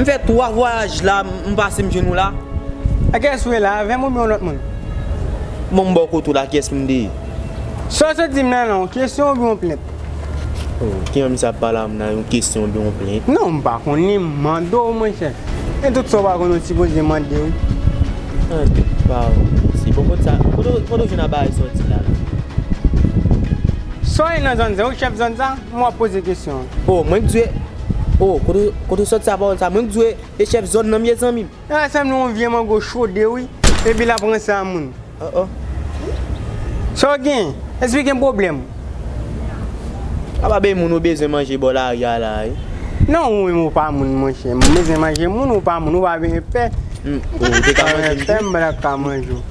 M fè 3 vwayaj la m pase m jwenn ou la. A kiyès ou ye la, avè m oubyen yon lòt moun? Bon m ba w kote w la, a kiyès m te ye? Sa w sot di m nan la, yon kesyon oubyen yon plent? O, kijan misye ap pale avè m la, yon kesyon oubyen yon plent? Non, m pa konnen, m mande w monchè. Men tout sa w pa konnen w sipoze mande wi. An nou pa ranse. Bon kote sa, kote w jwenn abay sa w di m la la? Sa w ye nan zòn sa, ou chèf zòn sa? Kman wap poze kesyon an. Oh mwen k dwe oh kote ou soti sa pawol sa mwen k dwe e chef zone nan mye zanmim. Sa sanble yon vye mango chode wi epi lap ranse a moun. Oh oh. Saw gen? Èske gen pwoblèm? Apa bay moun ou bezwen manje bò lari a la wi. Non ou menm ou pa moun monchè. M bezwen manje moun ou pa moun ou pa vin pè. Ou te ka manje m tou. Ou vin pè m balak ka manje w.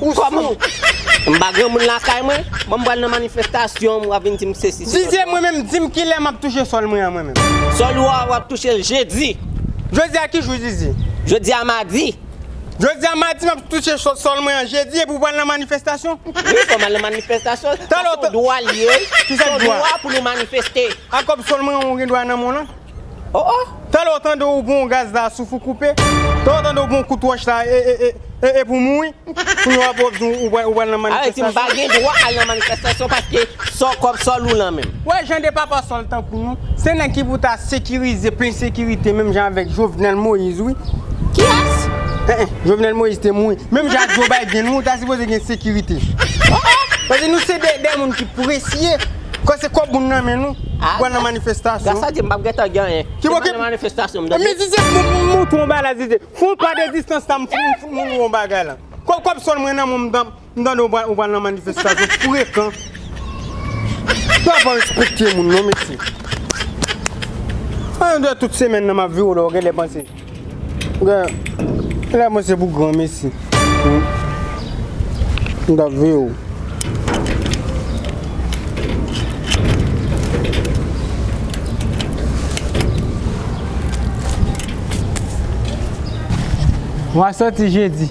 Ou sou. M pa granmoun lakay mwen, bon m pral nan manifestasyon wap vin dim sesi se lòt. Vizye mwen menm dim kilè map touche sòl mwen an mwen menm. Sòl ou a wap touche l jedi. Jodi a ki jou zizi? Jodi a madi. Jodi a madi map touche sòl mwen an jedi epi ou pral nan manifestasyon? Wi fòm al nan manifestasyon, sa son dwa l ye, son dwa pou nou manifeste. A kòb sòl mwen an ou gen dwa nan men w lan? Oh oh! Talè w tande w bon gaz la souf ou koupe, talè w tande w bon kout wòch la e epi w mouri, kounya w ap wè w di w pral nan manifestasyon. Areti m pa gen dwa al nan manifestasyon paske sò kòb sò lou nan menm. Wè jan de papa sòl tankou nou, se nèg ki pou ta sekirize plen sekirite menm jan avèk Jovenel Moïse wi. Kiyès? Eh eh Jovenel Moïse te mouri, menm jan ak Joe Biden wi ou ta sipoze gen sekirite. Oh oh! Paske nou se de moun ki presye Kò se kòb moun nan men nou pou al nan manifestasyon. Gras a Dye m pap gentan gen anyen. Se pa nan manifestasyon m tande. Men Didier m montre w yon bagay la Didier. Fè yon pa de distans la m montre w yon bagay la. Kòb sòl mwen nan men w m tande w pral nan manifestasyon frekan. Sa a pa respekte moun non mesye. An deyò tout semèn nan m ap viw lè w genlè panse. Gen lè mwen se pou gran mesi m ta veye w. Mwen soti jedi.